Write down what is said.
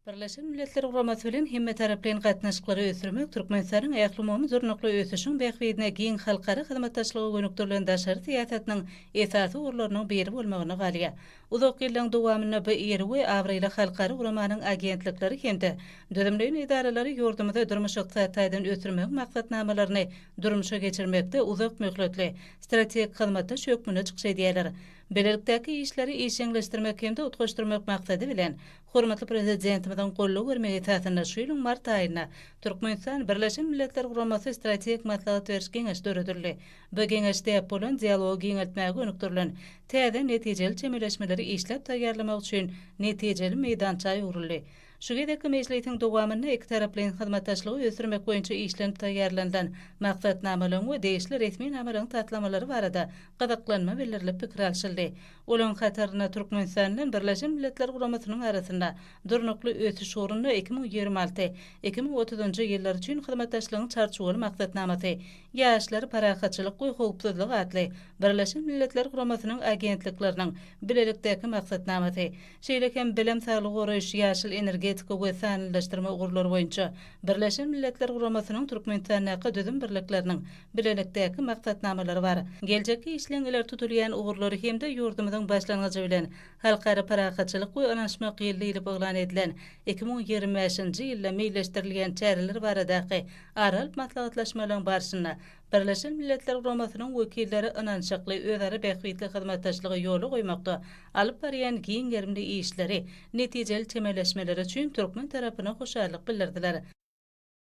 Birleşen Milletler Guramasy bilen hemmetaraplaýyn gatnaşyklary ösdürmek Türkmenistanyň ählumumy durnukly ösüşiň bähbidine giň halkara hyzmatdaşlyga gönükdirilen daşary syýasatynyň esasy ugurlarynyň biri bolmagyna galýar. Uzak ýyllaryň dowamynda bu iri we abraýly halkara guramanyň agentlikleri hem-de düzümleýin edaralary ýurdumyzy durmuş-ykdysady taýdan ösdürmegiň maksatnamalaryny durmuşa geçirmekde uzak möhletli, strategik hyzmatdaş hökmünde çykyş edýärler. Bilelikdäki işleri işjeňleşdirmek hem-de utgaşdyrmak maksady bilen, hormatly Prezidentimiziň goldaw bermegi esasynda şu ýylyň mart aýynda Türkmenistan, Birleşen Milletler Guramasy Strategik maslahat beriş geňeşi döredildi. Bu geňeş däp bolan dialogy giňeltmäge gönükdirilen täze netijeli çemeleşmeleri işläp taýýarlamak üçin netijeli meýdança öwrüldi. Şu gezekki mejlisiň dowamynda ikitaraplaýyn hyzmatdaşlygy ösdürmek boýunça işlenip taýýarlanylan Maksatnamalaryň we degişli resminamalaryň taslamalary barada gyzyklanma bildirilip pikir alşyldy. Olaryň hatarynda Türkmenistan bilen Birleşen Milletler Guramasynyň arasynda Durnukly ösüş ugrunda iki müň ýigrimi alty, iki müň otuzynjy ýyllar üçin hyzmatdaşlygyň Çarçuwaly maksatnamasy, Ýaşlar, parahatçylyk we howpsuzlyk atly Birleşen Milletler Guramasynyň agentlikleriniň bilelikdäki maksatnamasy, şeýle hem bilim, saglygy goraýyş, ýaşyl energetika we sanlylaşdyrma ugurlary boýunça Birleşen Milletler Guramasynyň Türkmenistandaky düzüm birlikleriniň bilelikdäki maksatnamalary bar. Geljekki işleň ileri tutulýan ugurlary hem-de ýurdumyzyň başlangyjy bilen Halkara parahatçylyk we ynanyşmak ýyly diýlip yglan edilen iki müň ýigrimi bäşinji ýylda meýilleşdirilýän çäreler baradaky ara alyp maslahatlaşmalaryň barşynda Birleşen Milletler Guramasynyň wekilleri ynanyşykly, özara bähbitli hyzmatdaşlygy ýola goýmakda alyp barýan giň gerimli işleri, netijeli çemeleşmeleri üçin türkmen tarapyna hoşallyk bildirdiler.